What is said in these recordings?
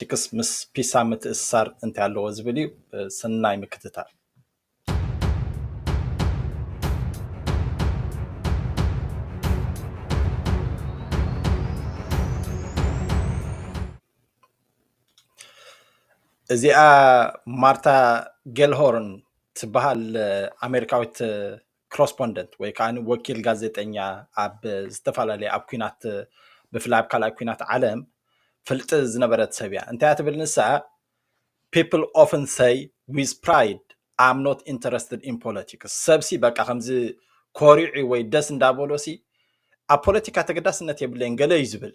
ቺክስ ምስ ፒሳ ምትእስሳር እንታይ ኣለዎ ዝብል እዩ። ሰናይ ምክትታል። እዚኣ ማርታ ጌልሆርን ትበሃል ኣሜሪካዊት ክሮስፖንደንት ወይ ከዓ ወኪል ጋዜጠኛ ኣብ ዝተፈላለዩ ኣብ ኩናት ብፍላይ ኣብ ካልኣይ ኩናት ዓለም ፍልጢ ዝነበረት ሰብ እያ እንታይ ትብል ንሳ ፒፕል ኦፍን ሰይ ዊዝ ፕራይድ ኣም ኖት ኢንተረስትድ ኢን ፖለቲክስ ሰብሲ በቃ ከምዚ ኮሪዑ ወይ ደስ እንዳበሎሲ ኣብ ፖለቲካ ተገዳስነት የብለይን ገለ እዩ ዝብል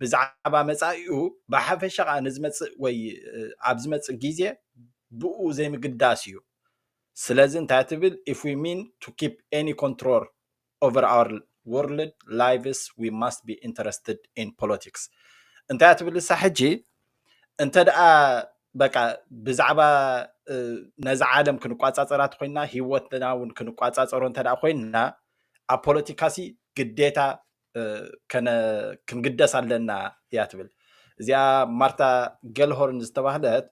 ብዛዕባ መጻኢኡ ብሓፈሻ ከኣ ንዝመጽእ ወይ ኣብ ዝመጽእ ግዜ ብኡ ዘይምግዳስ እዩ ስለዚ እንታይ ትብል if we mean to keep any control over our world lives we must be interested in politics እንታይ ትብል እሳ ሕጂ እንተ ደኣ በቃ ብዛዕባ ነዚ ዓለም ክንቋጻጸራ ኮይና ሂወትና እውን ክንቋጻጸሮ እንተ ኮይና ኣብ ፖለቲካሲ ግዴታ ክንግደስ ኣለና እያ ትብል እዚኣ ማርታ ገልሆርን ዝተባህለት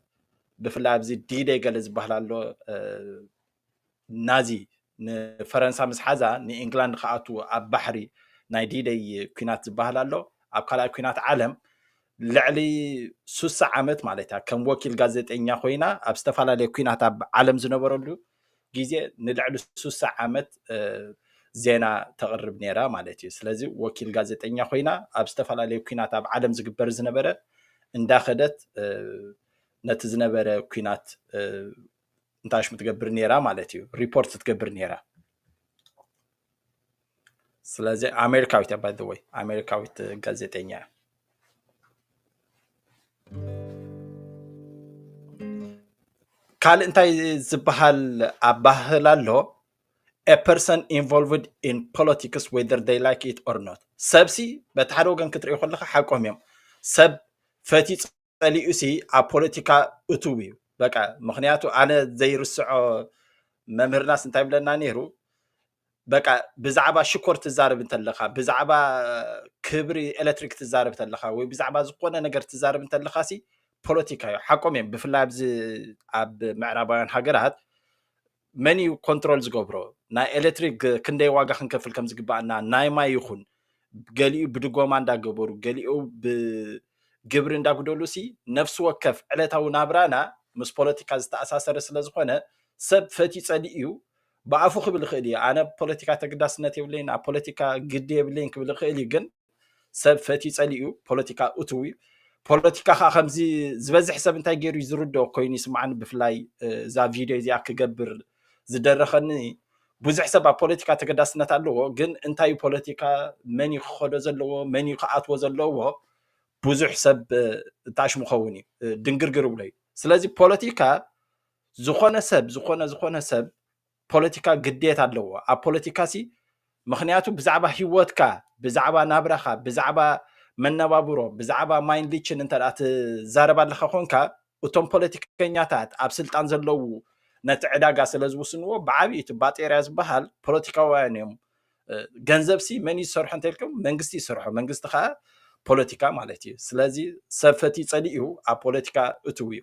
ብፍላይ ኣብዚ ዲደ ገለ ዝበሃል ኣሎ ናዚ ንፈረንሳ ምስ ሓዛ ንእንግላንድ ከኣት ኣብ ባሕሪ ናይ ዲደይ ኩናት ዝበሃል ኣሎ ኣብ ካልኣይ ኩናት ዓለም ልዕሊ ሱሳ ዓመት ማለት እያ ከም ወኪል ጋዜጠኛ ኮይና ኣብ ዝተፈላለየ ኩናት ኣብ ዓለም ዝነበረሉ ግዜ ንልዕሊ ሱሳ ዓመት ዜና ተቕርብ ነይራ ማለት እዩ ስለዚ ወኪል ጋዜጠኛ ኮይና ኣብ ዝተፈላለዩ ኩናት ኣብ ዓለም ዝግበር ዝነበረ እንዳኸደት ነቲ ዝነበረ ኩናት እንታሽሙ ትገብር ነይራ ማለት እዩ ሪፖርት ትገብር ነይራ ስለዚ ኣሜሪካዊት እያ ባይዘወይ ኣሜሪካዊት ጋዜጠኛ እያ ካልእ እንታይ ዝበሃል ኣባህል ኣሎ a person involved in politics whether they like it or not ሰብሲ በቲ ሓደ ወገን ክትሪኦ ከለካ ሓቆም እዮም ሰብ ፈትዩ ጸሊኡሲ ኣብ ፖለቲካ እቱው እዩ በቃ ምክንያቱ ኣነ ዘይርስዖ መምህርናስ እንታይ ብለና ነይሩ በቃ ብዛዕባ ሽኮር ትዛረብ እንተለኻ ብዛዕባ ክብሪ ኤሌክትሪክ ትዛረብ እንተለኻ ወይ ብዛዕባ ዝኾነ ነገር ትዛረብ እንተለኻ ሲ ፖለቲካ እዩ ሓቆም እዮም ብፍላይ ኣብዚ ኣብ ምዕራባውያን ሃገራት መን እዩ ኮንትሮል ዝገብሮ ናይ ኤሌክትሪክ ክንደይ ዋጋ ክንከፍል ከም ዝግባኣና ናይ ማይ ይኹን ገሊኡ ብድጎማ እንዳገበሩ ገሊኡ ብግብሪ እንዳጉደሉ ሲ ነፍሲ ወከፍ ዕለታዊ ናብራና ምስ ፖለቲካ ዝተኣሳሰረ ስለ ዝኾነ ሰብ ፈትዩ ጸሊእ እዩ ብኣፉ ክብል ይኽእል እዩ ኣነ ፖለቲካ ተግዳስነት የብለይን ኣብ ፖለቲካ ግዲ የብለይን ክብል ይኽእል እዩ ግን ሰብ ፈትዩ ጸሊኡ ፖለቲካ እትው እዩ ፖለቲካ ከዓ ከምዚ ዝበዝሕ ሰብ እንታይ ገይሩ እዩ ዝርድኦ ኮይኑ ይስምዓኒ ብፍላይ እዛ ቪድዮ እዚኣ ክገብር ዝደረኸኒ ብዙሕ ሰብ ኣብ ፖለቲካ ተገዳስነት ኣለዎ ግን እንታይ ፖለቲካ መን እዩ ክኸዶ ዘለዎ መን እዩ ክኣትዎ ዘለዎ ብዙሕ ሰብ እታሽ ምኸውን እዩ ድንግርግር ብሎ እዩ ስለዚ ፖለቲካ ዝኾነ ሰብ ዝኾነ ዝኾነ ሰብ ፖለቲካ ግዴታ ኣለዎ ኣብ ፖለቲካ ሲ ምክንያቱ ብዛዕባ ሂወትካ ብዛዕባ ናብራካ ብዛዕባ መነባብሮ ብዛዕባ ማይን ሊችን እንተ ትዛረብ ኣለካ ኮንካ እቶም ፖለቲከኛታት ኣብ ስልጣን ዘለዉ ነቲ ዕዳጋ ስለ ዝውስንዎ ብዓብዪ እቲ ባጤርያ ዝበሃል ፖለቲካውያን እዮም ገንዘብ ሲ መን ይሰርሖ እንተልኩም መንግስቲ ይሰርሖ መንግስቲ ከዓ ፖለቲካ ማለት እዩ ስለዚ ሰብ ፈትዩ ፀሊእ እዩ ኣብ ፖለቲካ እትው እዩ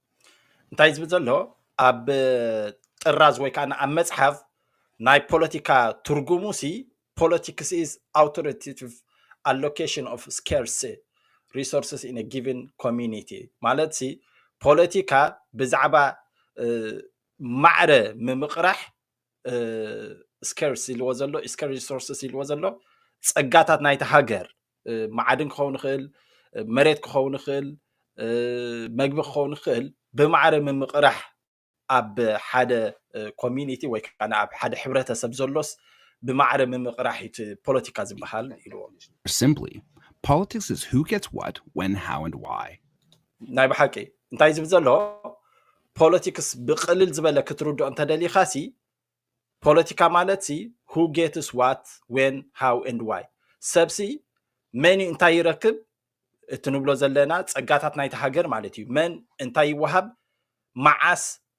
እንታይ ዝብል ዘሎ ኣብ ጥራዝ ወይ ከዓ ኣብ መፅሓፍ ናይ ፖለቲካ ትርጉሙ ሲ ፖለቲክስ ኢዝ ኣውቶሪቲቭ ኣሎኬሽን ኦፍ ስኬርስ ሪሶርስስ ኢን ጊቨን ኮሚኒቲ ማለት ሲ ፖለቲካ ብዛዕባ ማዕረ ምምቕራሕ ስከርስ ኢልዎ ዘሎ ስከር ሪሶርስስ ኢልዎ ዘሎ ፀጋታት ናይቲ ሃገር መዓድን ክኸውን ይኽእል መሬት ክኸውን ይኽእል መግቢ ክኸውን ይኽእል ብማዕረ ምምቕራሕ ኣብ ሓደ ኮሚኒቲ ወይ ከዓ ኣብ ሓደ ሕብረተሰብ ዘሎስ ብማዕረ ምምቕራሕ እቲ ፖለቲካ ዝበሃል ኢልዎ Simply, politics is who gets what, when, how, and why. ናይ ብሓቂ እንታይ ዝብል ዘሎ ፖለቲክስ ብቅልል ዝበለ ክትርድኦ እንተደሊካ ሲ ፖለቲካ ማለት ሲ ሁ ጌትስ ዋት ዌን ሃው ኤንድ ዋይ ሰብሲ መን እዩ እንታይ ይረክብ እቲ ንብሎ ዘለና ፀጋታት ናይቲ ሃገር ማለት እዩ መን እንታይ ይወሃብ መዓስ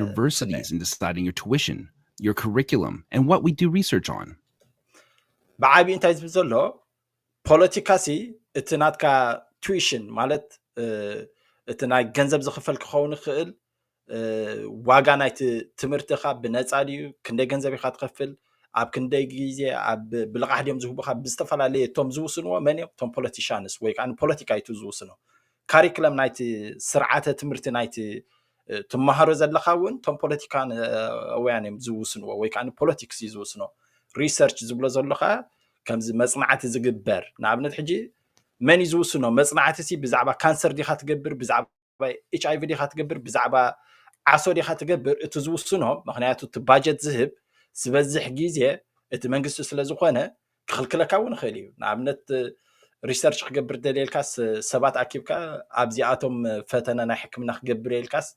Universities in deciding your tuition, your curriculum, and what we do research on. ብዓቢ እንታይ ዝብል ዘሎ ፖለቲካ ሲ እቲ ናትካ ቱዊሽን ማለት እቲ ናይ ገንዘብ ዝኽፈል ክኸውን ይኽእል ዋጋ ናይቲ ትምህርትኻ ብነፃ ድዩ ክንደይ ገንዘብ ኢኻ ትኸፍል ኣብ ክንደይ ግዜ ኣብ ብልቓሕ ድዮም ዝህቡኻ ብዝተፈላለየ እቶም ዝውስንዎ መን እዮም እቶም ፖለቲሻንስ ወይ ከዓ ፖለቲካ እዩ ዝውስኖ ካሪክለም ናይቲ ስርዓተ ትምህርቲ ናይቲ ትመሃሮ ዘለኻ እውን እቶም ፖለቲካውያን እዮም ዝውስንዎ ወይ ከዓ ፖለቲክስ እዩ ዝውስኖ ሪሰርች ዝብሎ ዘሎ ከዓ ከምዚ መፅናዕቲ ዝግበር ንኣብነት ሕጂ መን እዩ ዝውስኖ መፅናዕቲ ሲ ብዛዕባ ካንሰር ዲኻ ትገብር ብዛዕባ ኤች ኣይቪ ዲኻ ትገብር ብዛዕባ ዓሶ ዲኻ ትገብር እቲ ዝውስኖ ምክንያቱ እቲ ባጀት ዝህብ ዝበዝሕ ግዜ እቲ መንግስቲ ስለ ዝኾነ ክኽልክለካ እውን ይኽእል እዩ ንኣብነት ሪሰርች ክገብር ደልየልካስ ሰባት ኣኪብካ ኣብዚኣቶም ፈተነ ናይ ሕክምና ክገብር የልካስ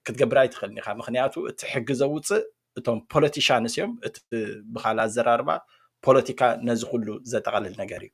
ክትገብር ኣይትኽእልን ኢኻ ምክንያቱ እቲ ሕጊ ዘውፅእ እቶም ፖለቲሻንስ እዮም እቲ ብካል ኣዘራርባ ፖለቲካ ነዚ ኩሉ ዘጠቓልል ነገር እዩ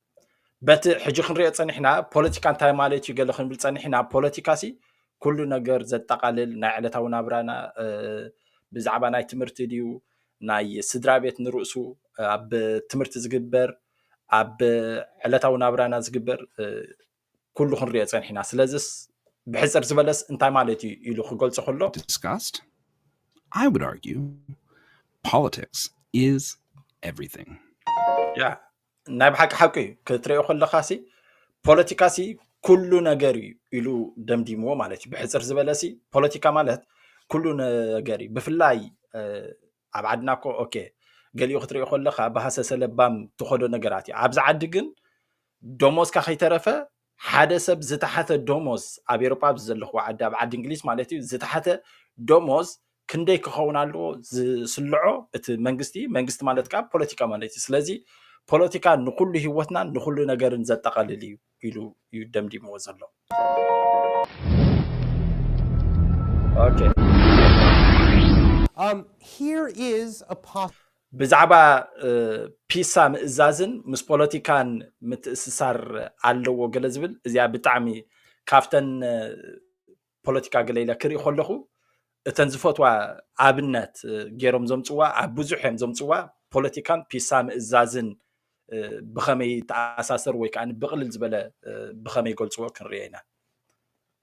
በቲ ሕጂ ክንሪኦ ፀኒሕና ፖለቲካ እንታይ ማለት እዩ ገለ ክንብል ፀኒሕና ፖለቲካ ሲ ኩሉ ነገር ዘጠቓልል ናይ ዕለታዊ ናብራና ብዛዕባ ናይ ትምህርቲ ድዩ ናይ ስድራ ቤት ንርእሱ ኣብ ትምህርቲ ዝግበር ኣብ ዕለታዊ ናብራና ዝግበር ኩሉ ክንሪኦ ፀኒሕና ስለዚስ ብሕፅር ዝበለስ እንታይ ማለት እዩ ኢሉ ክገልፆ ከሎ discussed I would argue politics is everything ያ ናይ ብሓቂ ሓቂ እዩ ክትሪኦ ከለካ ሲ ፖለቲካ ሲ ኩሉ ነገር እዩ ኢሉ ደምዲምዎ ማለት እዩ ብሕፅር ዝበለ ሲ ፖለቲካ ማለት ኩሉ ነገር እዩ ብፍላይ እ፣ ኣብ ዓድና እኮ ኦኬ ገሊኡ ክትሪኦ ከለካ ብሃሰሰ ለባም ትኸዶ ነገራት እዩ ኣብዚ ዓዲ ግን ደሞዝካ ከይተረፈ ሓደ ሰብ ዝተሓተ ደሞዝ ኣብ ኤሮጳ ኣብዚ ዘለኽዎ ዓዲ ኣብ ዓዲ እንግሊዝ ማለት እዩ ዝተሓተ ደሞዝ ክንደይ ክኸውን ኣለዎ ዝስልዖ እቲ መንግስቲ መንግስቲ ማለት ከዓ ፖለቲካ ማለት እዩ ስለዚ ፖለቲካ ንኩሉ ህይወትናን ንኩሉ ነገርን ዘጠቓልል እዩ ኢሉ እዩ ደምዲምዎ ዘሎ ኦኬ Um, here is a possible ብዛዕባ ፒሳ ምእዛዝን ምስ ፖለቲካን ምትእስሳር ኣለዎ ገለ ዝብል እዚኣ ብጣዕሚ ካብተን ፖለቲካ ገለ ኢለ ክርኢ ከለኹ እተን ዝፈትዋ ኣብነት ገይሮም ዘምፅዋ ኣብ ብዙሕ እዮም ዘምፅዋ ፖለቲካን ፒሳ ምእዛዝን ብኸመይ ተኣሳሰር ወይ ከዓ ብቕልል ዝበለ ብኸመይ ገልፅዎ ክንሪኦ ኢና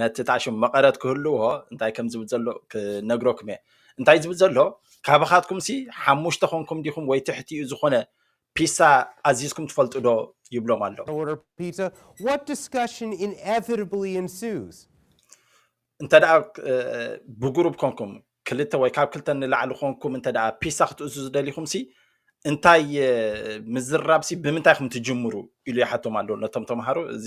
ነቲ ታሽም መቐረት ክህልዎ እንታይ ከም ዝብል ዘሎ ክነግረኩም እየ እንታይ ዝብል ዘሎ ካባኻትኩም ሲ ሓሙሽተ ኮንኩም ዲኹም ወይ ትሕቲኡ ዝኾነ ፒሳ ኣዚዝኩም ትፈልጡ ዶ ይብሎም ኣሎ እንተ ደኣ ብጉሩብ ኮንኩም ክልተ ወይ ካብ ክልተ ንላዕሊ ኮንኩም እንተ ደኣ ፒሳ ክትእዝዙ ደሊኹም ሲ እንታይ ምዝራብ ሲ ብምንታይ ኹም ትጅምሩ ኢሉ ይሓቶም ኣሎ ነቶም ተምሃሮ እዚ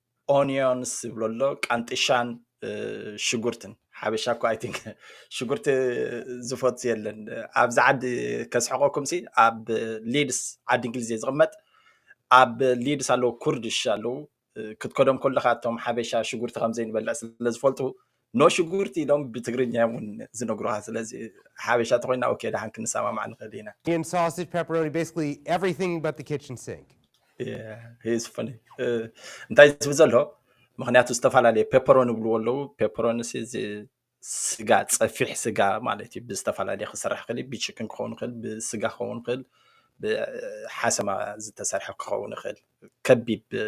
ኦኒዮንስ ይብሎ ኣሎ ቃንጥሻን ሽጉርትን ሓበሻ እኮ ኣይ ቲንክ ሽጉርቲ ዝፈቱ የለን ኣብዚ ዓዲ ከስሕቀኩም ሲ ኣብ ሊድስ ዓዲ እንግሊዝ እየ ዝቕመጥ ኣብ ሊድስ ኣለዉ ኩርድሽ ኣለዉ ክትከዶም ከለካ እቶም ሓበሻ ሽጉርቲ ከም ዘይንበልዕ ስለ ዝፈልጡ ኖ ሽጉርቲ ኢሎም ብትግርኛ እዮም እውን ዝነግሩኻ ስለዚ ሓበሻ ተኮይና ኦኬ ደሓን ክንሰማማዕ ንኽእል ኢና Onion, sausage, pepperoni, basically everything but the kitchen sink. Yeah, he is funny. እ፣ እንታይ ዝብል ዘሎ ምክንያቱ ዝተፈላለየ ፔፐሮን ይብልዎ ኣለዉ ፔፐሮን ሲ እዚ ስጋ ፀፊሕ ስጋ ማለት እዩ ብዝተፈላለየ ክስራሕ ክእል ብችክን ክኸውን ይኽእል ብስጋ ክኸውን ይኽእል ብሓሰማ ዝተሰርሐ ክኸውን ይኽእል ከቢብ እ፣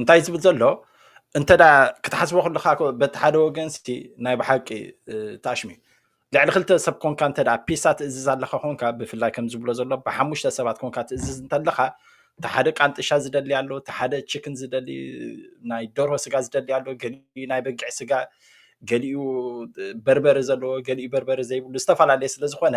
እንታይ ዝብል ዘሎ እንተ ክትሓስቦ ከለካ በቲ ሓደ ወገን ሲ ናይ ብሓቂ ተኣሽሙ እዩ ልዕሊ ክልተ ሰብ ኮንካ እንተ ፒሳ ትእዝዝ ኣለካ ኮንካ ብፍላይ ከም ዝብሎ ዘሎ ብሓሙሽተ ሰባት ኮንካ ትእዝዝ እንተለካ እቲ ሓደ ቃንጥሻ ዝደሊ ኣሎ እቲ ሓደ ችክን ዝደሊ ናይ ደርሆ ስጋ ዝደሊ ኣሎ ገሊኡ ናይ በጊዕ ስጋ ገሊኡ በርበረ ዘለዎ ገሊኡ በርበረ ዘይብሉ ዝተፈላለየ ስለዝኮነ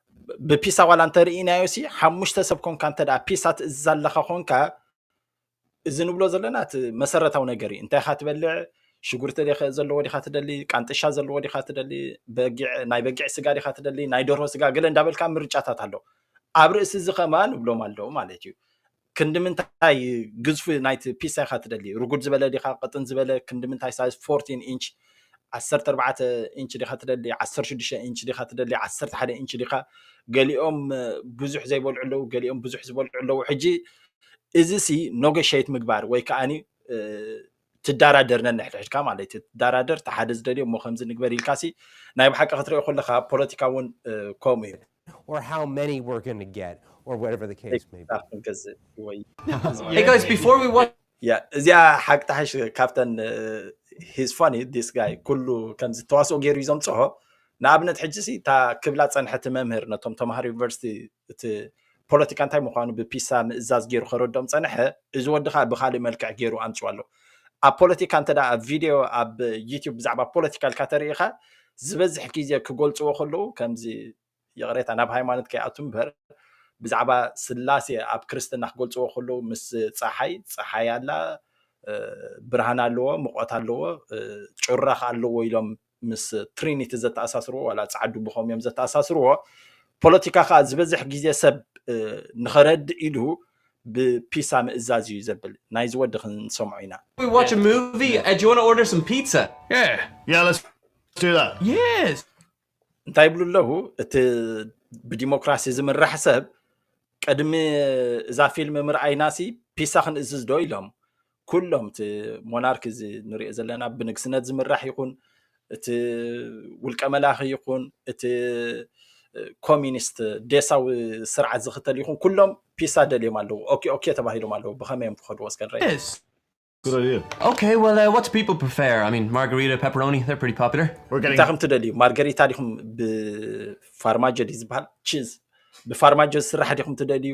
ብፒሳ ዋላ እንተርኢናዮ ሲ ሓሙሽተ ሰብ ኮንካ እንተ ፒሳ ትእዝዝ ኣለኻ ኮንካ እዚ ንብሎ ዘለና እቲ መሰረታዊ ነገር እዩ እንታይ ኢኻ ትበልዕ ሽጉርቲ ዘለዎ ዲኻ ትደሊ ቃንጥሻ ዘለዎ ዲኻ ትደሊ ናይ በጊዕ ስጋ ዲኻ ትደሊ ናይ ደርሆ ስጋ ገለ እንዳበልካ ምርጫታት ኣሎ ኣብ ርእሲ እዚ ከማን እብሎም ኣለዉ ማለት እዩ ክንዲ ምንታይ ግዝፊ ናይቲ ፒሳ ኢኻ ትደሊ? ርጉድ ዝበለ ዲኻ ቅጥን ዝበለ? ክንዲ ምንታይ ሳይዝ ፎርቲን ኢንች፣ ዓሰርተ ኣርባዕተ ኢንች፣ ዲኻ ትደሊ? ዓሰርተ ሽዱሽተ ኢንች ዲኻ ትደሊ? ዓሰርተ ሓደ ኢንች ዲኻ? ገሊኦም ብዙሕ ዘይበልዑ ኣለዉ፣ ገሊኦም ብዙሕ ዝበልዑ ኣለዉ። ሕጂ እዚሲ ኖገሸይት ምግባር ወይ ከኣ ትዳራደር ነንሕድሕድካ ማለት እዩ ትዳራደር እቲ ሓደ ዝደልዮ እሞ ከምዚ ንግበር ኢልካ ሲ ናይ ብሓቂ ክትሪኦ ከለካ ኣብ ፖለቲካ እውን ከምኡ እዩ or how many we're going to get or whatever the case may be ክንገዝእ ወይ Hey guys, before we watch ያ እዚኣ ሓቂ ትሓሽ ካብተን ሂዝ ፋኒ ዲስ ጋይ ኩሉ ከምዚ ተዋስኦ ገይሩ እዩ ዘምፅሖ ንኣብነት ሕጂ ሲ እታ ክብላ ፀንሐቲ መምህር ነቶም ተምሃሮ ዩኒቨርሲቲ እቲ ፖለቲካ እንታይ ምዃኑ ብፒሳ ምእዛዝ ገይሩ ከረዶም ፀንሐ እዚ ወዲ ከዓ ብካሊእ መልክዕ ገይሩ ኣምፅኦ ኣሎ ኣብ ፖለቲካ እንተ ኣብ ቪድዮ ኣብ ዩትብ ብዛዕባ ፖለቲካ ልካ ተርእኻ ዝበዝሕ ግዜ ክገልፅዎ ከለዉ ከምዚ ይቕሬታ ናብ ሃይማኖት ከይኣቱ እምበር ብዛዕባ ስላሴ ኣብ ክርስትና ክገልፅዎ ከለዉ ምስ ፀሓይ ፀሓይ ኣላ ብርሃን ኣለዎ ምቆት ኣለዎ ጩራ ኣለዎ ኢሎም ምስ ትሪኒቲ ዘተኣሳስርዎ ዋላ ጻዓዱ ብኸም እዮም ዘተኣሳስርዎ ፖለቲካ ከዓ ዝበዝሕ ግዜ ሰብ ንኸረድእ ኢሉ ብፒሳ ምእዛዝ እዩ ዘብል ናይዚ ወዲ ክንሰምዖ ኢና We watch a movie. Uh, do you want to order some pizza? Yeah, yeah, let's do that. Yes. እንታይ ይብሉ ኣለዉ እቲ ብዲሞክራሲ ዝምራሕ ሰብ ቅድሚ እዛ ፊልም ምርኣይናሲ ፒሳ ክንእዝዝ ዶ ኢሎም ኩሎም እቲ ሞናርክ እዚ ንሪኦ ዘለና ብንግስነት ዝምራሕ ይኹን እቲ ውልቀ መላኺ ይኹን እቲ ኮሚኒስት ዴሳዊ ስርዓት ዝኽተል ይኹን ኩሎም ፒሳ ደልዮም ኣለዉ ኦኬ ኦኬ ተባሂሎም ኣለዉ ብኸመይ እዮም ክኸድዎ እስከ ንረኢ Yes. Good idea. Okay, well, uh, what do people prefer? I mean, margarita, pepperoni, they're pretty popular. We're getting. እንታይ ከም ትደልዩ ማርገሪታ ዲኹም ብፋርማጆ ድዩ ዝበሃል ቺዝ ብፋርማጆ ዝስራሕ ዲኹም ትደልዩ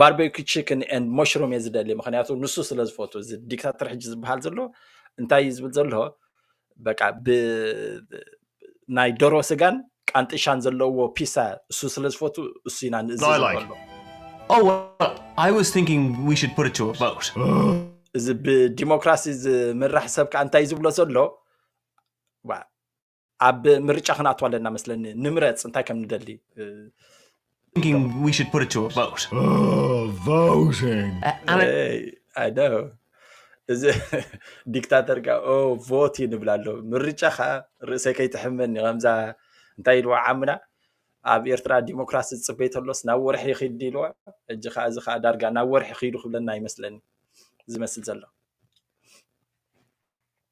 ባርቤኪ ቺክን ኤንድ መሽሩም እየ ዝደሊ ምክንያቱ ንሱ ስለ ዝፈቱ እዚ ዲክታተር ሕጂ ዝበሃል ዘሎ እንታይ እዩ ዝብል ዘሎ በቃ ብናይ ደሮ ስጋን ቃንጥሻን ዘለዎ ፒሳ እሱ ስለ ዝፈቱ እሱ ኢና ንእዝዝ ዘሎ Oh, well, I was thinking we should put it to a vote. እዚ ብዲሞክራሲ ዝምራሕ ሰብ ከዓ እንታይ ዝብሎ ዘሎ ኣብ ምርጫ ክንኣቱ ኣለና መስለኒ ንምረፅ እንታይ ከም ንደሊ እዚ ዲክታተር ካ ቮት እዩ ንብል ኣሎ ምርጫ ከዓ ርእሰይ ከይትሕመኒ ከምዛ እንታይ ኢልዋ ዓምና ኣብ ኤርትራ ዲሞክራሲ ዝፅበይ ተሎስ ናብ ወርሒ ይኽድ ኢልዋ ሕጂ ከዓ እዚ ከዓ ዳርጋ ናብ ወርሒ ክይዱ ክብለና ይመስለኒ ዝመስል ዘሎ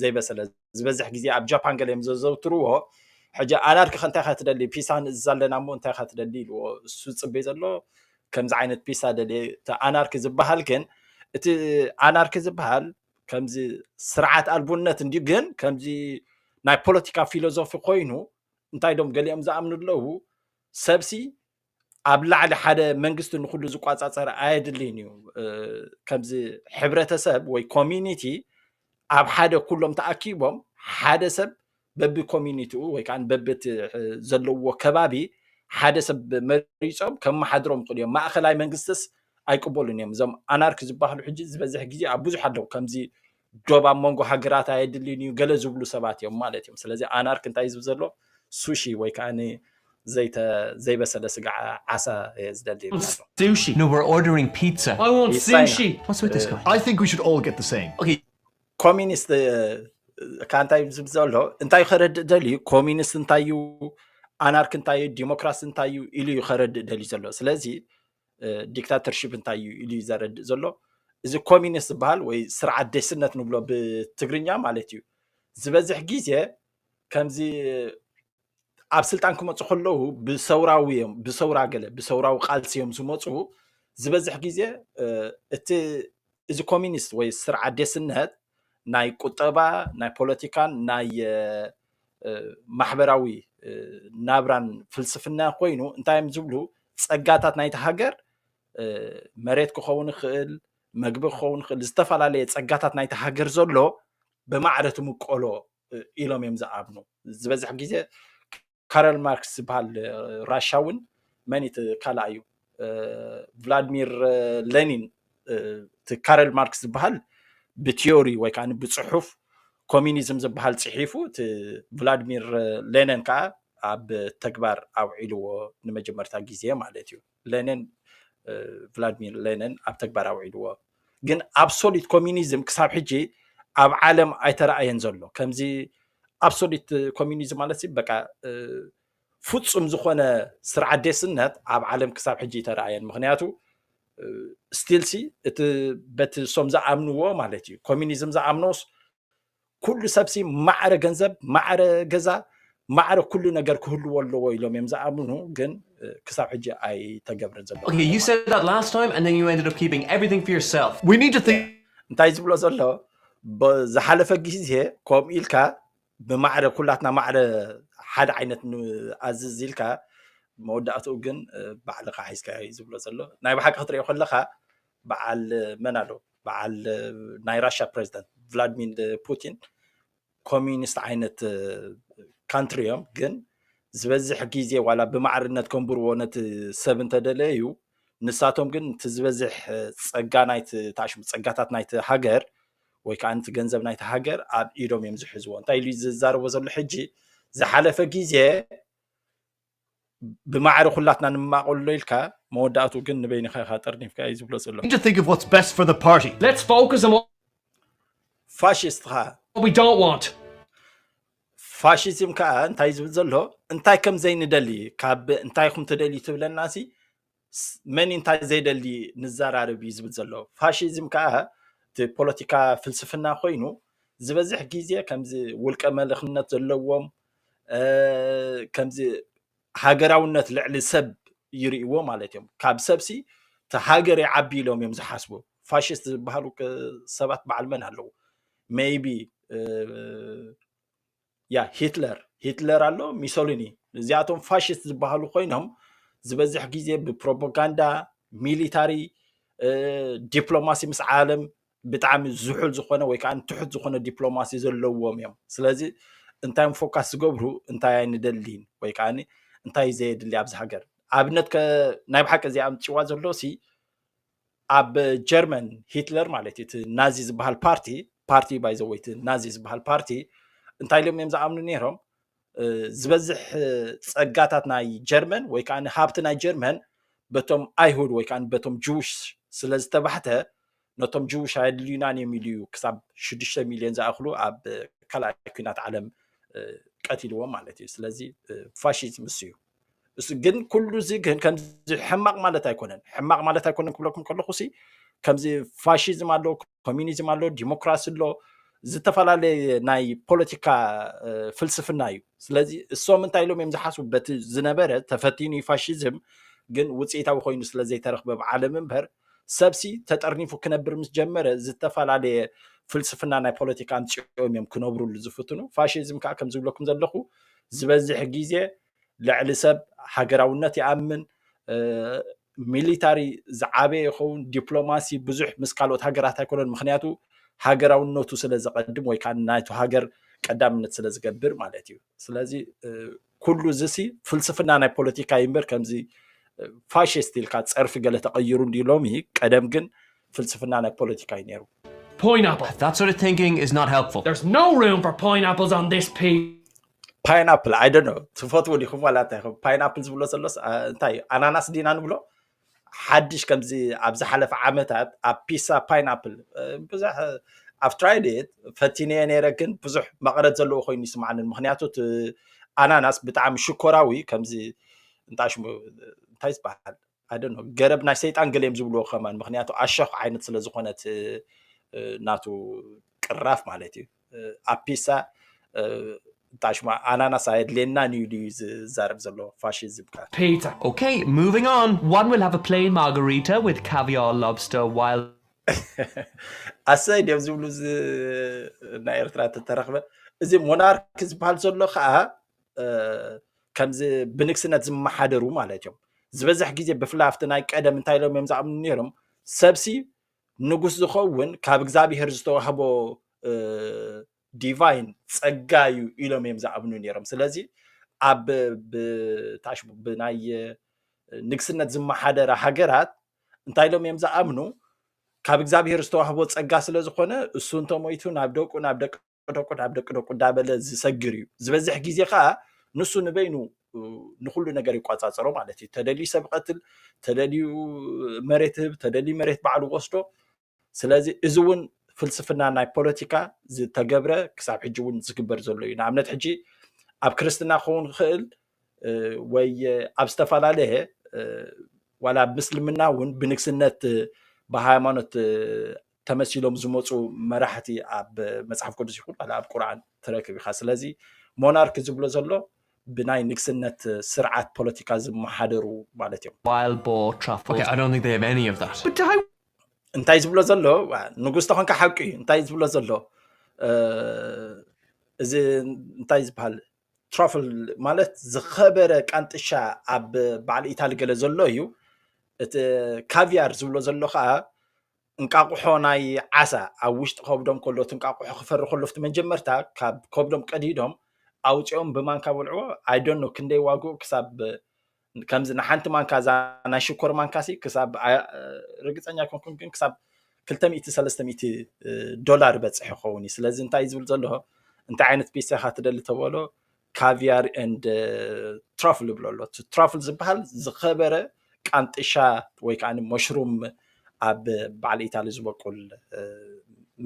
ዘይበሰለ ዝበዝሕ ግዜ ኣብ ጃፓን ገለ እዮም ዘዘውትርዎ ሕጂ ኣላርኪ ከ እንታይ ካ ትደሊ ፒሳ ንእዝዝ ኣለና እሞ እንታይ ካ ትደሊ ኢልዎ እሱ ዝፅበይ ዘሎ ከምዚ ዓይነት ፒሳ ደልየ እቲ ኣናርኪ ዝበሃል ግን እቲ ኣናርኪ ዝበሃል ከምዚ ስርዓት ኣልቡነት እንዲ ግን ከምዚ ናይ ፖለቲካ ፊሎዞፊ ኮይኑ እንታይ ዶም ገሊኦም ዝኣምኑ ኣለዉ ሰብሲ ኣብ ላዕሊ ሓደ መንግስቲ ንኩሉ ዝቋፃፀር ኣየድልይን እዩ ከምዚ ሕብረተሰብ ወይ ኮሚኒቲ ኣብ ሓደ ኩሎም ተኣኪቦም ሓደ ሰብ በቢ ኮሚኒቲኡ ወይ ከዓ በቢ ዘለዎ ከባቢ ሓደ ሰብ መሪፆም ከመሓድሮም ይኽእሉ እዮም ማእኸላይ መንግስትስ ኣይቅበሉን እዮም እዞም ኣናርኪ ዝበሃሉ ሕጂ ዝበዝሕ ግዜ ኣብ ብዙሕ ኣለዉ ከምዚ ዶብ ኣብ መንጎ ሃገራት ኣየድልን እዩ ገለ ዝብሉ ሰባት እዮም ማለት እዮም ስለዚ ኣናርክ እንታይ ዝብ ዘሎ ሱሺ ወይ ከዓ ዘይበሰለ ስጋ ዓሳ እየ ዝደሊ ሱሺ No, we're ordering pizza. I want sushi. What's with this guy? I think we should all get the same. Okay. ኮሚኒስት ከዓ እንታይ ዝብ ዘሎ እንታይ ከረድእ ደልዩ ኮሚኒስት እንታይ እዩ ኣናርክ እንታይ እዩ ዲሞክራሲ እንታይ እዩ ኢሉ እዩ ከረድእ ደልዩ ዘሎ ስለዚ ዲክታተርሽፕ እንታይ እዩ ኢሉ ዘረድእ ዘሎ እዚ ኮሚኒስት ዝበሃል ወይ ስርዓት ደስነት ንብሎ ብትግርኛ ማለት እዩ ዝበዝሕ ግዜ ከምዚ ኣብ ስልጣን ክመፁ ከለዉ ብሰውራዊ እዮም ብሰውራ ገለ ብሰውራዊ ቃልሲ እዮም ዝመፁ ዝበዝሕ ግዜ እቲ እዚ ኮሚኒስት ወይ ስርዓት ደስነት ናይ ቁጠባ ናይ ፖለቲካን ናይ ማሕበራዊ ናብራን ፍልስፍና ኮይኑ እንታይ እዮም ዝብሉ ፀጋታት ናይቲ ሃገር መሬት ክኸውን ይኽእል መግቢ ክኸውን ይኽእል ዝተፈላለየ ፀጋታት ናይቲ ሃገር ዘሎ ብማዕረ ትምቀሎ ኢሎም እዮም ዝኣምኑ ዝበዝሕ ግዜ ካረል ማርክስ ዝበሃል ራሻውን መን እቲ ካልኣ እዩ ቭላድሚር ሌኒን እቲ ካረል ማርክስ ዝበሃል ብቲዮሪ ወይ ከዓ ብፅሑፍ ኮሚኒዝም ዝበሃል ፅሒፉ እቲ ቭላድሚር ሌኒን ከዓ ኣብ ተግባር ኣውዒልዎ ንመጀመርታ ግዜ ማለት እዩ ሌኒን ቭላድሚር ሌኒን ኣብ ተግባር ኣውዒልዎ ግን ኣብሶሉት ኮሚኒዝም ክሳብ ሕጂ ኣብ ዓለም ኣይተረኣየን ዘሎ ከምዚ ኣብሶሉት ኮሚኒዝም ማለት በቃ ፍጹም ዝኾነ ስርዓት ዴስነት ኣብ ዓለም ክሳብ ሕጂ ይተረኣየን ምክንያቱ ስቲልሲ እቲ በቲ ሶም ዝኣምንዎ ማለት እዩ ኮሚኒዝም ዝኣምኖስ ኩሉ ሰብሲ ማዕረ ገንዘብ ማዕረ ገዛ ማዕረ ኩሉ ነገር ክህልዎ ኣለዎ ኢሎም እዮም ዝኣምኑ ግን ክሳብ ሕጂ ኣይተገብረን ዘሎ እንታይ ዝብሎ ዘሎ ዝሓለፈ ግዜ ከምኡ ኢልካ ብማዕረ ኩላትና ማዕረ ሓደ ዓይነት ንኣዝዝ ኢልካ መወዳእትኡ ግን ባዕልኻ ሓይዝካዮ እዩ ዝብሎ ዘሎ ናይ ብሓቂ ክትሪኦ ከለካ በዓል መን ኣሎ በዓል ናይ ራሻ ፕሬዚደንት ቭላድሚር ፑቲን ኮሚኒስት ዓይነት ካንትሪ እዮም ግን ዝበዝሕ ግዜ ዋላ ብማዕርነት ከንብርዎ ነቲ ሰብ እንተደለዩ ንሳቶም ግን እቲ ዝበዝሕ ፀጋ ናይቲ ተኣሽሙ ፀጋታት ናይቲ ሃገር ወይ ከዓ ነቲ ገንዘብ ናይቲ ሃገር ኣብ ኢዶም እዮም ዝሕዝዎ እንታይ ኢሉ ዝዛረቦ ዘሎ ሕጂ ዝሓለፈ ግዜ ብማዕረ ኩላትና ንማቐሎ ኢልካ መወዳእቱ ግን ንበይንኻ ኢኻ ጠርኒፍካ እዩ ዝብሎ ዘሎ ፋሽስት ኸዓ ፋሽዝም ከዓ እንታይ ዝብል ዘሎ እንታይ ከም ዘይንደሊ ካብ እንታይ ኹም ትደልዩ ትብለና ሲ መን እንታይ ዘይደሊ ንዘራርብ እዩ ዝብል ዘሎ ፋሽዝም ከዓ እቲ ፖለቲካ ፍልስፍና ኮይኑ ዝበዝሕ ግዜ ከምዚ ውልቀ መልክነት ዘለዎም ከምዚ ሃገራውነት ልዕሊ ሰብ ይርእይዎ ማለት እዮም ካብ ሰብሲ እቲ ሃገር ይዓቢ ኢሎም እዮም ዝሓስቡ ፋሽስት ዝበሃሉ ሰባት በዓል መን ኣለዉ ሜይቢ ያ ሂትለር ሂትለር ኣሎ ሚሶሊኒ እዚኣቶም ፋሽስት ዝበሃሉ ኮይኖም ዝበዝሕ ግዜ ብፕሮፓጋንዳ ሚሊታሪ ዲፕሎማሲ ምስ ዓለም ብጣዕሚ ዝሑል ዝኾነ ወይ ከዓ ትሑት ዝኾነ ዲፕሎማሲ ዘለዎም እዮም ስለዚ እንታይ ፎካስ ዝገብሩ እንታይ ኣይንደሊን ወይ ከዓ እንታይ ዘየድሊ ኣብዚ ሃገር ኣብነት ናይ ብሓቂ እዚ ኣምፅዋ ዘሎ ሲ ኣብ ጀርመን ሂትለር ማለት እቲ ናዚ ዝበሃል ፓርቲ ፓርቲ ባይዘወይ እቲ ናዚ ዝበሃል ፓርቲ እንታይ ኢሎም እዮም ዝኣምኑ ነይሮም ዝበዝሕ ፀጋታት ናይ ጀርመን ወይ ከዓ ሃብቲ ናይ ጀርመን በቶም ኣይሁድ ወይ ከዓ በቶም ጅውሽ ስለ ዝተባሕተ ነቶም ጅውሽ ኣየድልዩናን እዮም ኢሉ እዩ ክሳብ ሽዱሽተ ሚልዮን ዝኣኽሉ ኣብ ካልኣይ ኩናት ዓለም ቀቲልዎም ማለት እዩ ስለዚ ፋሽዝም እሱ እዩ ግን ኩሉ እዚ ግን ከምዚ ሕማቕ ማለት ኣይኮነን ሕማቕ ማለት ኣይኮነን ክብለኩም ከለኹ ሲ ከምዚ ፋሽዝም ኣሎ ኮሚኒዝም ኣሎ ዲሞክራሲ ኣሎ ዝተፈላለየ ናይ ፖለቲካ ፍልስፍና እዩ ስለዚ እሶም እንታይ ኢሎም እዮም ዝሓስቡ በቲ ዝነበረ ተፈቲኑ ፋሽዝም ግን ውፅኢታዊ ኮይኑ ስለ ዘይተረኽበ ኣብ ዓለም እምበር ሰብሲ ተጠርኒፉ ክነብር ምስ ጀመረ ዝተፈላለየ ፍልስፍና ናይ ፖለቲካ ኣምፅኦም እዮም ክነብሩሉ ዝፍትኑ ፋሽዝም ከዓ ከም ዝብለኩም ዘለኹ ዝበዝሕ ግዜ ልዕሊ ሰብ ሃገራውነት ይኣምን ሚሊታሪ ዝዓበየ ይኸውን ዲፕሎማሲ ብዙሕ ምስ ካልኦት ሃገራት ኣይኮነን ምክንያቱ ሃገራውነቱ ስለ ዘቐድም ወይ ከዓ ናይቱ ሃገር ቀዳምነት ስለ ዝገብር ማለት እዩ ስለዚ ኩሉ እዚሲ ፍልስፍና ናይ ፖለቲካ ይምበር ከምዚ ፋሽስት ኢልካ ፀርፊ ገለ ተቐይሩ እንዲ ሎሚ ቀደም ግን ፍልስፍና ናይ ፖለቲካ እዩ ነይሩ። Poineapple! That sort of thinking is not helpful. There's no room for poineapples on this piece. ፓይናፕል ኣይ ዶንት ኖ ትፈትዎ ዲኹም ዋላ እንታይ ኢኹም ፓይናፕል ዝብሎ ዘሎስ ኣ፣ እንታይ እዩ ኣናናስ ዲና ንብሎ ሓድሽ ከምዚ ኣብ ዝሓለፈ ዓመታት ኣብ ፒሳ ፓይናፕል እ፣ ብዙሕ ኣብ ትራይድ ፈቲነየ ነይረ ግን ብዙሕ መቐረት ዘለዎ ኮይኑ ይስምዓኒ ምክንያቱ እቲ ኣናናስ ብጣዕሚ ሽኮራዊ ከምዚ እንታይ ሽሙ እንታይ ዝበሃል ኣይ ዶንት ኖ ገረብ ናይ ሰይጣን ገሌም ዝብልዎ ከማን ምክንያቱ ኣሸኽ ዓይነት ስለ ዝኾነት ናቱ ቅራፍ ማለት እዩ ኣፒሳ እንታይ ሽማ ኣናናስ ኣየድልየናን እዩ ድዩ ዝዛረብ ዘሎ ፋሽዝም ከ Pizza. Okay, moving on. One will have a plain margarita with caviar, lobster, while ኣሰይ ድዮም ዝብሉ እዚ ናይ ኤርትራ ተተረኽበ እዚ ሞናርክ ዝበሃል ዘሎ ከዓ ከምዚ ብንግስነት ዝመሓደሩ ማለት እዮም ዝበዝሕ ግዜ ብፍላይ ኣብቲ ናይ ቀደም እንታይ ኢሎም እዮም ዝኣምኑ ነይሮም ሰብሲ ንጉስ ዝኸውን ካብ እግዚኣብሄር ዝተዋህቦ ዲቫይን ጸጋ እዩ ኢሎም እዮም ዝኣምኑ ነይሮም ስለዚ ኣብ ብታሽ ብናይ ንግስነት ዝመሓደረ ሃገራት እንታይ ኢሎም እዮም ዝኣምኑ ካብ እግዚኣብሄር ዝተዋህቦ ጸጋ ስለ ዝኾነ እሱ እንተሞይቱ ናብ ደቁ ናብ ደቂ ደቁድ ኣብ ደቂ ደቁ እንዳበለ ዝሰግር እዩ ዝበዝሕ ግዜ ከዓ ንሱ ንበይኑ ንኩሉ ነገር ይቆፃፀሮ ማለት እዩ ተደልዩ ሰብ ቀትል ተደልዩ መሬት ህብ ተደልዩ መሬት ባዕሉ ወስዶ ስለዚ እዚ እውን ፍልስፍና ናይ ፖለቲካ ዝተገብረ ክሳብ ሕጂ እውን ዝግበር ዘሎ እዩ ንኣብነት ሕጂ ኣብ ክርስትና ክኸውን ክኽእል ወይ ኣብ ዝተፈላለየ ዋላ ኣብ ምስልምና እውን ብንግስነት ብሃይማኖት ተመሲሎም ዝመፁ መራሕቲ ኣብ መፅሓፍ ቅዱስ ይኹን ዋላ ኣብ ቁርኣን ትረክብ ኢኻ ስለዚ ሞናርክ ዝብሎ ዘሎ ብናይ ንግስነት ስርዓት ፖለቲካ ዝመሓደሩ ማለት እዮም Wild boar truffles. Okay, I don't think they have any of that. But I እንታይ ዝብሎ ዘሎ ዋ፣ ንጉስ ተኾንካ ሓቂ እዩ እንታይ ዝብሎ ዘሎ እ፣ እዚ እንታይ ዝበሃል ትሮፍል ማለት ዝኸበረ ቃንጥሻ ኣብ በዓል ኢታሊ ገለ ዘሎ እዩ እቲ ካቪያር ዝብሎ ዘሎ ከዓ እንቃቑሖ ናይ ዓሳ ኣብ ውሽጢ ከብዶም ከሎ እቲ እንቃቑሖ ክፈሪ ከሎ ፍቲ መጀመርታ ካብ ከብዶም ቀዲዶም ኣውፂኦም ብማንካ በልዕዎ ኣይደኖ ክንደይ ዋግኡ ክሳብ ከምዚ ንሓንቲ ማንካ እዛ ናይ ሽኮር ማንካ ሲ ክሳብ ርግፀኛ ኮንኩን ግን ክሳብ 200 ዶላር በፅሕ ይኸውን እዩ ስለዚ እንታይ ዝብል ዘሎ እንታይ ዓይነት ፒሳ ኢኻ ትደሊ ተበሎ ካቪያር ንድ ትራፍል ዝብሎ ኣሎ ትራፍል ዝበሃል ዝኸበረ ቃንጥሻ ወይ ከዓ መሽሩም ኣብ በዓል ኢታሊ ዝበቁል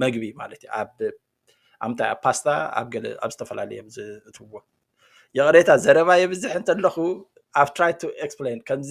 መግቢ ማለት እዩ ኣብ ኣምታይ ኣብ ፓስታ ኣብ ገለ ኣብ ዝተፈላለየ ዝእትዎ ይቕሬታ ዘረባ የብዝሕ እንተለኹ ኣብ ትራይ ቱ ኤክስፕሌን ከምዚ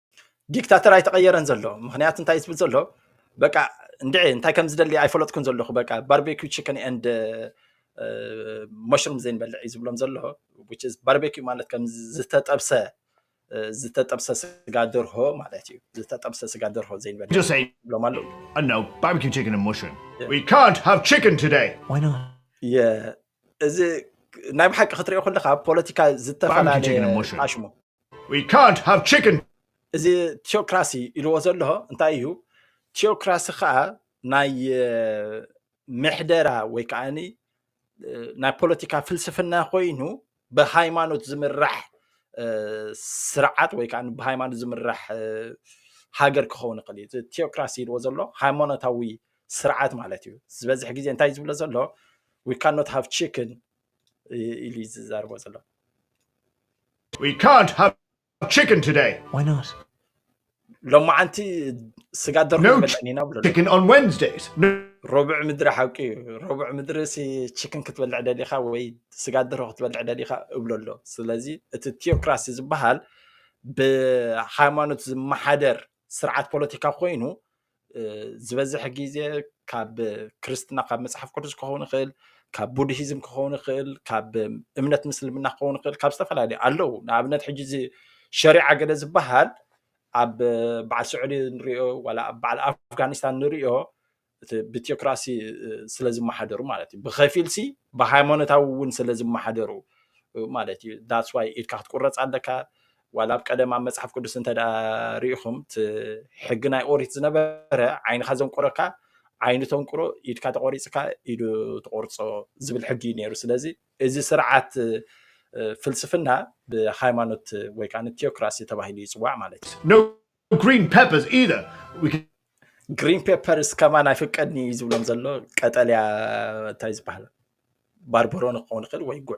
ዲክታተር ኣይተቐየረን ዘሎ ምክንያቱ እንታይ ዝብል ዘሎ በቃ እንድዒ እንታይ ከም ዝደሊ ኣይፈለጥኩን ዘለኹ በቃ ባርቤኪ ችክን ኤንድ መሽሩም ዘይንበልዕ እዩ ዝብሎም ዘሎ ባርቤኪ ማለት ከም ዝተጠብሰ ዝተጠብሰ ስጋ ደርሆ ማለት እዩ ዝተጠብሰ ስጋ ደርሆ ዘይንበልዕ Just say, ይብሎም ኣለዉ oh no, barbecue chicken and mushroom. We can't have chicken today. Why not? የ- እዚ ናይ ብሓቂ ክትሪኦ ከለካ ኣብ ፖለቲካ Barbecue chicken and ዝተፈላለዩ mushroom. ኣሽሙ We can't have chicken! እዚ ቲዮክራሲ ኢልዎ ዘለዎ እንታይ እዩ? ቲዮክራሲ ከዓ ናይ ምሕደራ ወይ ከዓ ናይ ፖለቲካ ፍልስፍና ኮይኑ ብሃይማኖት ዝምራሕ ስርዓት ወይ ከዓ ብሃይማኖት ዝምራሕ ሃገር ክኸውን ይኽእል እዩ እዚ ቴዎክራሲ ኢልዎ ዘሎ ሃይማኖታዊ ስርዓት ማለት እዩ ዝበዝሕ ግዜ እንታይ ዝብሎ ዘሎ ዊካኖት ሃቭ ቺክን ኢሉ እዩ ዝዛርቦ ዘሎ We can't have chicken today. Why not? ሎማዓንቲ ስጋ ደርሆ No ይበልዕን ኢና ብሎ Chicken on Wednesdays. No ሮብዕ ምድሪ ሓቂ እዩ ሮብዕ ምድሪ ሲ ቺክን ክትበልዕ ደሊኻ ወይ ስጋ ደርሆ ክትበልዕ ደሊኻ እብሎ ኣሎ ስለዚ እቲ ቲዮክራሲ ዝበሃል ብሃይማኖት ዝመሓደር ስርዓት ፖለቲካ ኮይኑ ዝበዝሕ ግዜ ካብ ክርስትና ካብ መፅሓፍ ቅዱስ ክኸውን ይኽእል ካብ ቡድሂዝም ክኸውን ይኽእል ካብ እምነት ምስልምና ክኸውን ይኽእል ካብ ዝተፈላለዩ ኣለዉ ንኣብነት ሕጂ እዚ ሸሪዓ ገለ ዝበሃል ኣብ በዓል ስዑዲ ንሪኦ ዋላ ኣብ በዓል ኣፍጋኒስታን ንሪኦ እቲ ብቲዮክራሲ ስለ ዝመሓደሩ ማለት እዩ ብከፊል ሲ ብሃይማኖታዊ እውን ስለ ዝመሓደሩ ማለት እዩ ዳስዋይ ኢድካ ክትቁረፅ ኣለካ ዋላ ኣብ ቀደም ኣብ መጽሓፍ ቅዱስ እንተ ርኢኹም እቲ ሕጊ ናይ ኦሪት ዝነበረ ዓይንኻ ዘንቁረካ ዓይኑ ተንቁሮ ኢድካ ተቆሪፅካ ኢዱ ተቆርፆ ዝብል ሕጊ እዩ ነይሩ ስለዚ እዚ ስርዓት ፍልስፍና ብሃይማኖት ወይ ከዓ ቴዎክራሲ ተባሂሉ ይፅዋዕ ማለት እዩ ግሪን ፔፐርስ ኢዘር ግሪን ፔፐርስ ከማን ኣይፍቀድኒ እዩ ዝብሎም ዘሎ ቀጠልያ እንታይ ዝበሃል ባርበሮ ንክኸውን ይኽእል ወይ ጉዕ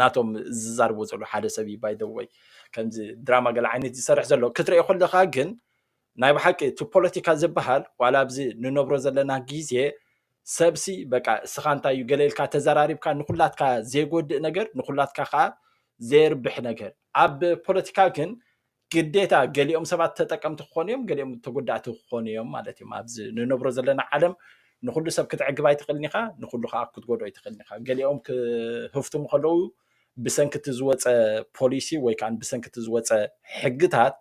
ናቶም ዝዛርብዎ ዘሎ ሓደ ሰብ እዩ ባይ ወይ ከምዚ ድራማ ገለ ዓይነት ዝሰርሕ ዘሎ ክትሪኦ ከለካ ግን ናይ ብሓቂ እቲ ፖለቲካ ዝበሃል ዋላ ኣብዚ ንነብሮ ዘለና ግዜ ሰብሲ በቃ እስኻ እንታይ እዩ ገለ ኢልካ ተዘራሪብካ ንኩላትካ ዘይጎድእ ነገር ንኩላትካ ከዓ ዘየርብሕ ነገር ኣብ ፖለቲካ ግን ግዴታ ገሊኦም ሰባት ተጠቀምቲ ክኾኑ እዮም ገሊኦም ተጎዳእቲ ክኾኑ እዮም ማለት እዮም ኣብዚ ንነብሮ ዘለና ዓለም ንኩሉ ሰብ ክትዕግብ ኣይትኽእልን ኢኻ ንኩሉ ከዓ ክትጎድኦ ኣይትኽእልን ኢኻ ገሊኦም ክህፍትሙ ከለዉ ብሰንኪ እቲ ዝወፀ ፖሊሲ ወይ ከዓ ብሰንኪ እቲ ዝወፀ ሕግታት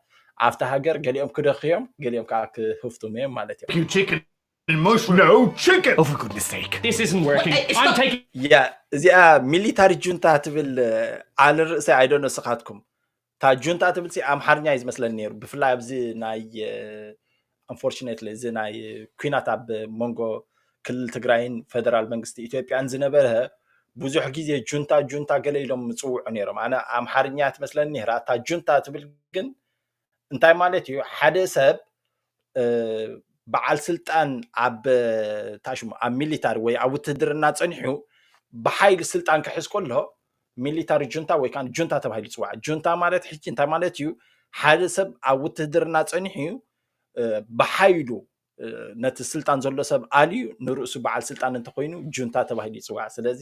ኣብቲ ሃገር ገሊኦም ክደኽ እዮም ገሊኦም ከዓ ክህፍትሙ እዮም ማለት እዮም እዚኣ ሚሊታሪ ጁንታ ትብል ዓል ርእሰይ ኣይደኖ ስኻትኩም እታ ጁንታ ትብል ሲ ኣምሓርኛ እዩ ዝመስለኒ ነይሩ ብፍላይ ኣብዚ ናይ ኣንፎርችነትሊ እዚ ናይ ኩናት ኣብ መንጎ ክልል ትግራይን ፈደራል መንግስቲ ኢትዮጵያን ዝነበረ ብዙሕ ግዜ ጁንታ ጁንታ ገለ ኢሎም ምፅውዑ ነይሮም ኣነ ኣምሓርኛ ትመስለኒ ነይራ እታ ጁንታ ትብል ግን እንታይ ማለት እዩ ሓደ ሰብ በዓል ስልጣን ኣብ እንታይ ሽሙ ኣብ ሚሊታሪ ወይ ኣብ ውትህድርና ፀኒሑ ብሓይሊ ስልጣን ክሕዝ ከሎ ሚሊታሪ ጁንታ ወይ ከዓ ጁንታ ተባሂሉ ይፅዋዕ ጁንታ ማለት ሕጂ እንታይ ማለት እዩ ሓደ ሰብ ኣብ ውትህድርና ፀኒሑ እዩ ብሓይሉ ነቲ ስልጣን ዘሎ ሰብ ኣልዩ ንርእሱ በዓል ስልጣን እንተኮይኑ ጁንታ ተባሂሉ ይፅዋዕ ስለዚ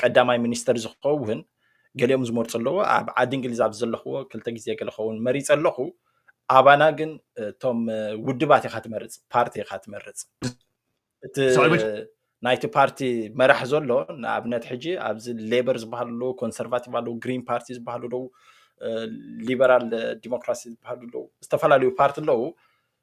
ቀዳማይ ሚኒስተር ዝኸውን ገሊኦም ዝመርፁ ኣለዎ ኣብ ዓዲ እንግሊዝ ኣብ ዘለኽዎ ክልተ ግዜ ገለ ኸውን መሪፀ ኣለኹ ኣባና ግን እቶም ውድባት ኢኻ ትመርፅ ፓርቲ ኢኻ ትመርፅ እቲ ናይቲ ፓርቲ መራሕ ዘሎ ንኣብነት ሕጂ ኣብዚ ሌበር ዝበሃሉ ኣለዉ ኮንሰርቫቲቭ ኣለዉ ግሪን ፓርቲ ዝበሃሉ ኣለዉ ሊበራል ዲሞክራሲ ዝበሃሉ ኣለዉ ዝተፈላለዩ ፓርቲ ኣለዉ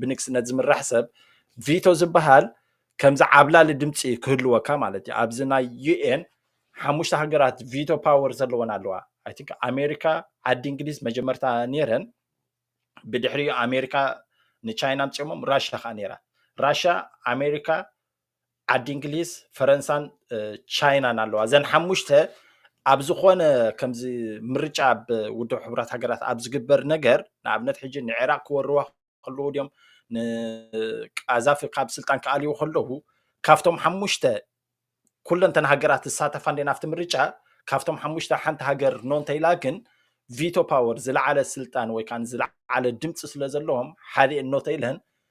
ብንግስነት ዝምራሕ ሰብ ቪቶ ዝበሃል ከምዚ ዓብላሊ ድምፂ ክህልወካ ማለት እዩ ኣብዚ ናይ ዩኤን ሓሙሽተ ሃገራት ቪቶ ፓወር ዘለወን ኣለዋ ኣይ ቲንክ ኣሜሪካ ዓዲ እንግሊዝ መጀመርታ ነይረን ብድሕሪኡ ኣሜሪካ ንቻይና ኣምፅኦሞም ራሽያ ከዓ ነይራ ራሽያ ኣሜሪካ ዓዲ እንግሊዝ ፈረንሳን ቻይናን ኣለዋ እዘን ሓሙሽተ ኣብ ዝኾነ ከምዚ ምርጫ ኣብ ውድብ ሕቡራት ሃገራት ኣብ ዝግበር ነገር ንኣብነት ሕጂ ንዕራቅ ክወርዋ ከለዉ ድዮም ንቃዛፊ ካብ ስልጣን ክኣልዩ ከለዉ ካብቶም ሓሙሽተ ኩለንተን ሃገራት ዝሳተፋ እንዴን ኣብቲ ምርጫ ካብቶም ሓሙሽተ ሓንቲ ሃገር ኖ እንተኢላ ግን ቪቶ ፓወር ዝለዓለ ስልጣን ወይ ከዓ ዝለዓለ ድምፂ ስለ ዘለዎም ሓደ እኖ ተኢለን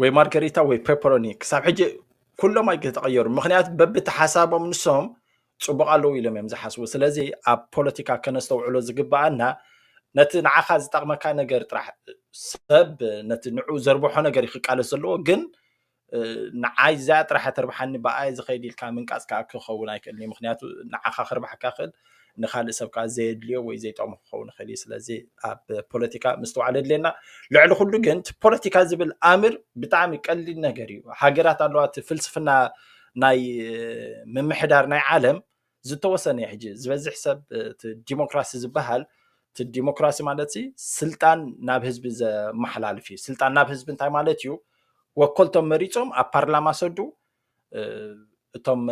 ወይ ማርገሪታ ወይ ፔፐሮኒ ክሳብ ሕጂ ኩሎም ኣይተቀየሩ ምክንያት በብቲ ሓሳቦም ንሶም ፅቡቅ ኣለዉ ኢሎም እዮም ዝሓስቡ ስለዚ ኣብ ፖለቲካ ከነስተውዕሎ ዝግበኣና ነቲ ንዓኻ ዝጠቅመካ ነገር ጥራሕ ሰብ ነቲ ንዑ ዘርብሖ ነገር እዩ ክቃለስ ዘለዎ ግን ንዓይ እዚኣ ጥራሕ ተርብሓኒ ብኣየ ዝኸይድ ኢልካ ምንቃፅ ከዓ ክኸውን ኣይክእልን እዩ ምክንያቱ ንዓኻ ክርብሓካ ክእል ንካልእ ሰብ ከዓ ዘየድልዮ ወይ ዘይጠቕሞ ክኸውን ይኽእል እዩ ስለዚ ኣብ ፖለቲካ ምስትውዓል የድልየና ልዕሊ ኩሉ ግን እቲ ፖለቲካ ዝብል ኣምር ብጣዕሚ ቀሊል ነገር እዩ ሃገራት ኣለዋ እቲ ፍልስፍና ናይ ምምሕዳር ናይ ዓለም ዝተወሰነ እዩ ሕጂ ዝበዝሕ ሰብ እቲ ዲሞክራሲ ዝበሃል እቲ ዲሞክራሲ ማለት ሲ ስልጣን ናብ ህዝቢ ዘመሓላልፍ እዩ ስልጣን ናብ ህዝቢ እንታይ ማለት እዩ ወከልቶም መሪፆም ኣብ ፓርላማ ሰዱ እቶም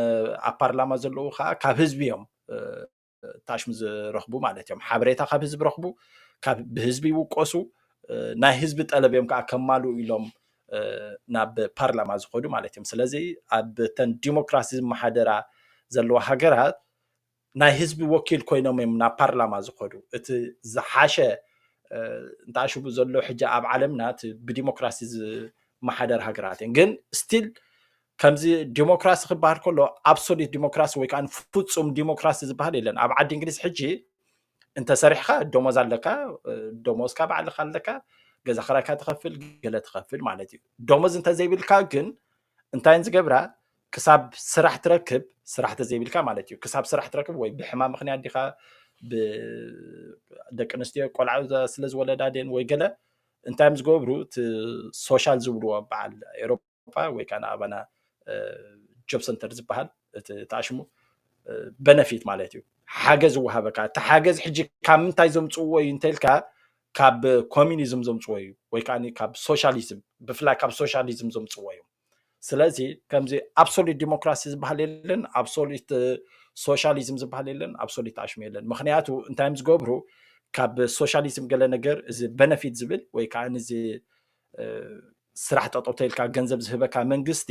ኣብ ፓርላማ ዘለዉ ከዓ ካብ ህዝቢ እዮም ታሽም ዝረኽቡ ማለት እዮም ሓበሬታ ካብ ህዝቢ ረኽቡ ካብ ብህዝቢ ይውቀሱ ናይ ህዝቢ ጠለብ እዮም ከዓ ከማልኡ ኢሎም ናብ ፓርላማ ዝኸዱ ማለት እዮም ስለዚ ኣብተን ዲሞክራሲ ዝመሓደራ ዘለዋ ሃገራት ናይ ህዝቢ ወኪል ኮይኖም እዮም ናብ ፓርላማ ዝኸዱ እቲ ዝሓሸ እንተኣሽቡ ዘሎ ሕጂ ኣብ ዓለምና እቲ ብዲሞክራሲ ዝመሓደር ሃገራት እየን ግን ስቲል ከምዚ ዲሞክራሲ ክበሃል ከሎ ኣብሶሉት ዲሞክራሲ ወይ ከዓ ፍፁም ዲሞክራሲ ዝበሃል የለን ኣብ ዓዲ እንግሊዝ ሕጂ እንተሰሪሕካ ደሞዝ ኣለካ ደሞዝካ ባዕልካ ኣለካ ገዛ ክራይካ ትኸፍል ገለ ትኸፍል ማለት እዩ ደሞዝ እንተዘይብልካ ግን እንታየን ዝገብራ ክሳብ ስራሕ ትረክብ ስራሕ ተዘይብልካ ማለት እዩ ክሳብ ስራሕ ትረክብ ወይ ብሕማ ምክንያት ዲካ ደቂ ኣንስትዮ ቆልዓ ስለ ዝወለዳ ድን ወይ ገለ እንታይም ዝገብሩ እቲ ሶሻል ዝብልዎ በዓል ኤሮፓ ወይ ከዓ ንኣባና ጆብ ሰንተር ዝበሃል እቲ ተኣሽሙ በነፊት ማለት እዩ ሓገዝ ዝወሃበካ እቲ ሓገዝ ሕጂ ካብ ምንታይ ዘምፅዎ እዩ እንተልካ ካብ ኮሚኒዝም ዘምፅዎ እዩ ወይ ከዓ ካብ ሶሻሊዝም ብፍላይ ካብ ሶሻሊዝም ዘምፅዎ እዮም ስለዚ ከምዚ ኣብሶሉት ዲሞክራሲ ዝበሃል የለን ኣብሶሉት ሶሻሊዝም ዝበሃል የለን ኣብሶሉት ኣሽሙ የለን ምክንያቱ እንታይ እዮም ዝገብሩ ካብ ሶሻሊዝም ገለ ነገር እዚ በነፊት ዝብል ወይ ከዓ እዚ ስራሕ ጠጠው ተልካ ገንዘብ ዝህበካ መንግስቲ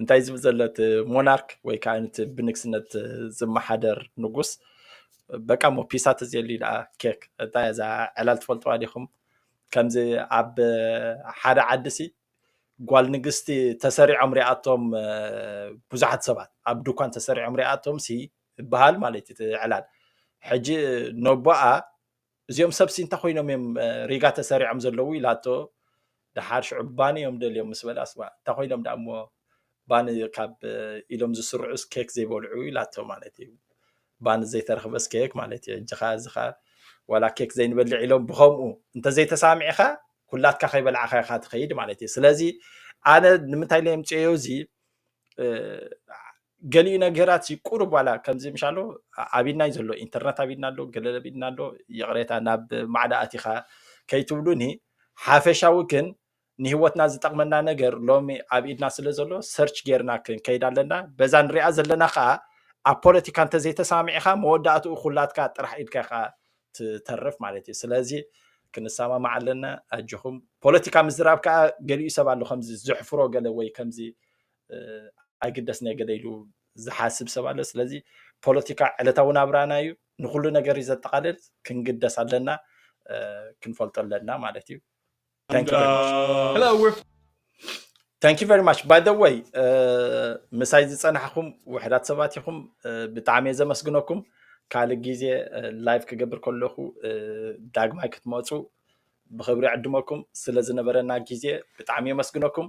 እንታይ ዝብል ዘሎ እቲ ሞናርክ ወይ ከዓ እቲ ብንግስነት ዝመሓደር ንጉስ በቃ ሞ ፒሳ ተዘየልዩ ደኣ ኬክ እንታይ እዛ ዕላል ትፈልጥዋ ዲኹም ከምዚ ኣብ ሓደ ዓዲ ሲ ጓል ንግስቲ ተሰሪዖም ሪኣቶም ብዙሓት ሰባት ኣብ ድኳን ተሰሪዖም ሪኣቶም ሲ ይበሃል ማለት እዩ ዕላል ሕጂ ነቦኣ እዚኦም ሰብሲ እንታይ ኮይኖም እዮም ሪጋ ተሰሪዖም ዘለዉ ኢላቶ ድሓር ሽዑ ባኒ እዮም ደልዮም ምስ በላ ስማ እንታይ ኮይኖም ደኣ እሞ ባኒ ካብ ኢሎም ዝስርዑስ ኬክ ዘይበልዑ ኢላቶ ማለት እዩ ባኒ ዘይተረኽበስ ኬክ ማለት እዩ እጅኻ እዚኻ ዋላ ኬክ ዘይንበልዕ ኢሎም ብከምኡ እንተዘይተሳሚዕኻ ኩላትካ ከይበልዓኻ ኢኻ ትኸይድ ማለት እዩ ስለዚ ኣነ ንምንታይ ለየምፅዮ እዚ ገሊኡ ነገራት ሲ ቁሩብ ዋላ ከምዚ ምሻሎ ኣቢድናይ ዘሎ ኢንተርነት ኣቢድና ኣሎ ገለለ ኣቢድና ኣሎ ይቕሬታ ናብ ማዕዳ ኣቲኻ ከይትብሉኒ ሓፈሻዊ ግን ንህይወትና ዝጠቕመና ነገር ሎሚ ኣብ ኢድና ስለ ዘሎ ሰርች ጌርና ክንከይድ ኣለና በዛ ንሪኣ ዘለና ከዓ ኣብ ፖለቲካ እንተዘይተሰማሚዕኻ መወዳእትኡ ኩላትካ ጥራሕ ኢድካ ኢኻ ትተርፍ ማለት እዩ ስለዚ ክንሰማማዕ ኣለና ኣጆኹም ፖለቲካ ምዝራብ ከዓ ገሊኡ ሰብ ኣሎ ከምዚ ዘሕፍሮ ገለ ወይ ከምዚ ኣይግደስ ናይ ገለ ኢሉ ዝሓስብ ሰብ ኣሎ ስለዚ ፖለቲካ ዕለታዊ ናብራና እዩ ንኩሉ ነገር እዩ ዘጠቃልል ክንግደስ ኣለና ክንፈልጦ ኣለና ማለት እዩ ታንኪ ቨሪ ማች ባይ ደ ወይ ምሳይ ዝፀናሕኩም ውሕዳት ሰባት ኢኹም ብጣዕሚ እየ ዘመስግነኩም ካልእ ግዜ ላይቭ ክገብር ከለኹ ዳግማይ ክትመፁ ብክብሪ ዕድመኩም ስለ ዝነበረና ግዜ ብጣዕሚ የመስግነኩም